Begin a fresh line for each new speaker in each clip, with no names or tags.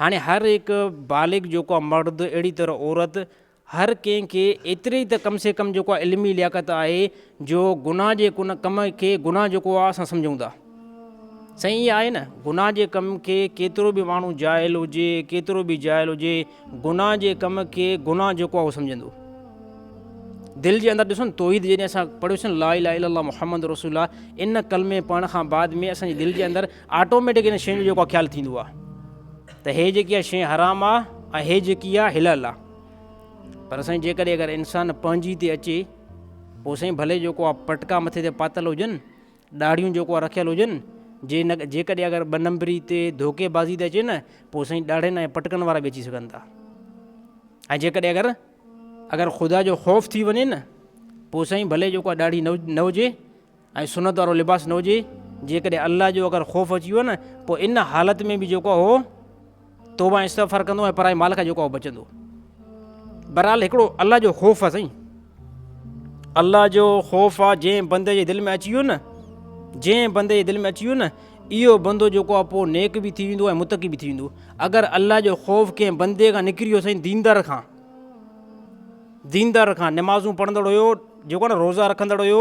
هاڻي هر هڪ بالغ جيڪو آهي مرد اهڙي طرح عورت هر ڪنهن کي ايتري ته ڪم سي ڪم جيڪو آهي علمي لياقت آهي جو گناهه جي ڪن ڪم کي گناهه جيڪو آهي اسان سمجهون ٿا سائين ايئن آهي نه گناهه جي ڪم کي ڪيترو به ماڻهو جاهل هجي ڪيترو به جاهل هجي گناهه جي ڪم کي گناهه جيڪو آهي اهو سمجهندو دل جي اندر ڏسو نه توحيد جڏهن اسان پڙهيوسين لا اله الا الله محمد رسول الله ان ڪلمي پڙهڻ کان بعد ۾ اسان جي دل جي اندر آٽوميٽڪ ان شين جو جيڪو خيال ٿيندو آ ته هي جيڪي آ شين حرام آ ۽ هي جيڪي آ حلال آ پر سائين جيڪڏهن اگر انسان پنهنجي تي اچي پو سائين ڀلي جيڪو آ پٽڪا مٿي تي پاتل هجن ڏاڙهيون جيڪو آ رکيل هجن جي نه جيڪڏهن اگر ٻه نمبري تي ڌوڪي بازي تي اچي نه پو سائين ڏاڙهين ۽ پٽڪن وارا به اچي سگهن ٿا ۽ جيڪڏهن اگر اگر خدا جو خوف ٿي وڃي نه پو سائين ڀلي جيڪو آ ڏاڙهي نه نه هجي ۽ سنت وارو لباس نه هجي، جيڪڏهن الله جو اگر خوف اچي ويو نه پوء ان حالت ۾ به جيڪو اهو توبه ۽ استغفار ڪندو ۽ پرائي مال کان جيڪو اهو بچندو. بهرحال هڪڙو الله جو خوف آ سائين. الله جو خوف آ جنهن بندي جي دل ۾ اچي ويو نه جنهن بندي جي دل ۾ اچي ويو نه اهو بندو جيڪو آ پوء نيڪ به ٿي ويندو ۽ متقي به ٿي ويندو. اگر الله جو خوف ڪنهن بندي کان نڪري ويو سائين ديندار کان ديندار کان نمازون پڙهندڙ هيو جيڪو نه روزا رکندڙ هيو،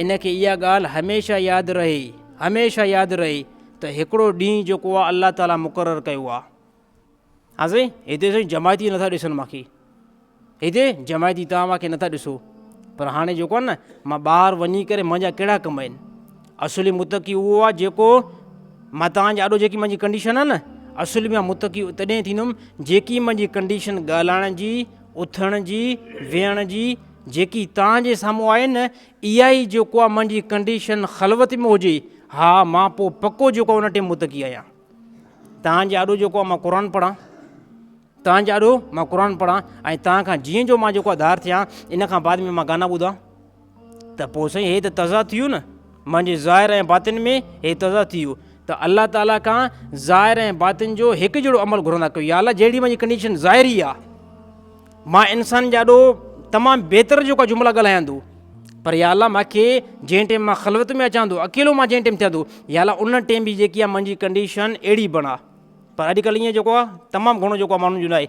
ان کي اها ڳالهه هميشه ياد رهي، هميشه ياد رهي ته هڪڙو ڏينهن جيڪو آ الله تعالي مقرر ڪيو آ. ها سائين هتي سائين جماعتي نٿا ڏسن مانکي هتي جماعتي توهان مانکي نٿا ڏسو پر هاڻي جيڪو آ نه مان ٻاهر وڃي ڪري منهنجا ڪهڙا ڪم آهن اصلي متقي اهو آ جيڪو مان توهان جي آڏو جيڪي منهنجي ڪنڊيشن آ نه اصل ۾ متقي تڏهن ٿيندم جيڪي منهنجي ڪنڊيشن ڳالهائڻ جي اٿڻ جي ويهڻ جي جيڪي توهان جي سامهون آهي نه اها ئي جيڪو آهي منهنجي ڪنڊيشن خلوت ۾ هجي ها مان پوء پڪو جيڪو آهي ان ٽي متقي آهيان توهان جي آڏو جيڪو آهي مان قرآن پڙهان توهان جي آڏو مان قرآن پڙهان ۽ توهان کان جيئن جو مان جيڪو آهي ڌار ٿيان ان کان بعد ۾ مان گانا ٻڌان ته پوء سائين هي ته تضاد ٿي ويو نه منهنجي ظاهر ۽ باطن ۾ هي تضاد ٿي ويو ته الله تعاليٰ کان ظاهر ۽ باطن جو هڪ جهڙو عمل گهرندا ڪيو يا الله جهڙي منهنجي ڪنڊيشن ظاهري آهي مان انسان جاڏو تمام بهتر جيڪا جملا ڳالهاياندو پر يا الله ماکي جنهن ٽيم مان خلوت ۾ اچان ٿو اڪيلو مان جنهن ٽيم ٿيان ٿو يا الله ان ٽيم جي جيڪي آ منهنجي ڪنڊيشن اهڙي بڻا پر اڄڪلهه ائين جيڪو آ تمام گهڻو جيڪو آ ماڻهن جو نه آهي